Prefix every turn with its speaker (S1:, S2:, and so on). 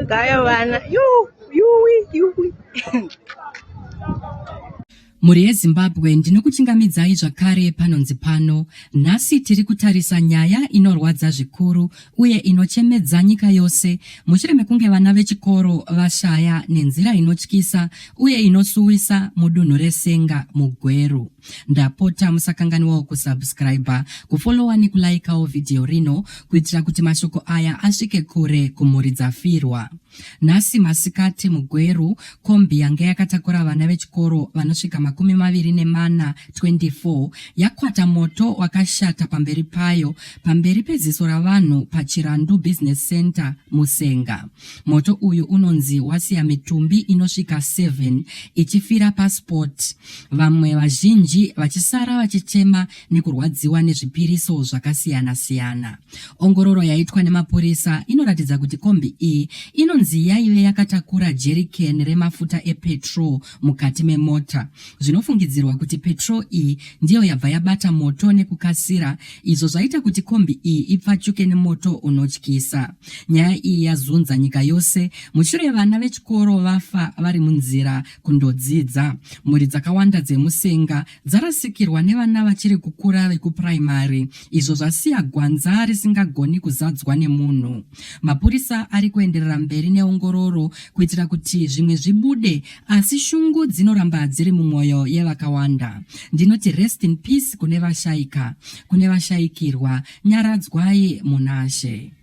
S1: Gaya vana. Yu, yuwi, yuwi. mhuri yezimbabwe ndinokuchingamidzai zvakare panonzi pano nhasi tiri kutarisa nyaya inorwadza zvikuru uye inochemedza nyika yose mushure mekunge vana vechikoro vashaya nenzira inotyisa uye inosuwisa mudunhu resenga mugweru Ndapota musakanganiwawo kusubscriber, kufollowa nekulaikawo vhidhiyo rino kuitira kuti mashoko aya asvike kure kumhuri dzafirwa. Nhasi masikati muGweru, kombi yange yakatakura vana vechikoro vanosvika makumi maviri nemana 24 yakwata moto wakashata pamberi payo pamberi peziso ravanhu paChirandu Business Center Musenga. Moto uyu unonzi wasiya mitumbi inosvika 7 ichifira pasport. vamwe vazhinji vachisara vachichema nekurwadziwa nezvipiriso zvakasiyana-siyana. Ongororo yaitwa nemapurisa inoratidza kuti kombi iyi inonzi yaive yakatakura jerikeni remafuta epetrol mukati memota. Zvinofungidzirwa kuti petrol iyi ndiyo yabva yabata moto nekukasira, izvo zvaita kuti kombi iyi ipfachuke nemoto unotyisa. Nyaya iyi yazunza nyika yose mushure vana vechikoro vafa vari munzira kundodzidza. Mhuri dzakawanda dzeMusenga dzarasikirwa nevana vachiri kukura vekupuraimari izvo zvasiya gwanza risingagoni kuzadzwa nemunhu. Mapurisa ari kuenderera mberi neongororo kuitira kuti zvimwe zvibude asi shungu dzinoramba dziri mumwoyo yevakawanda. Ndinoti rest in peace kune vashaika, kune vashaikirwa, nyaradzwai munashe.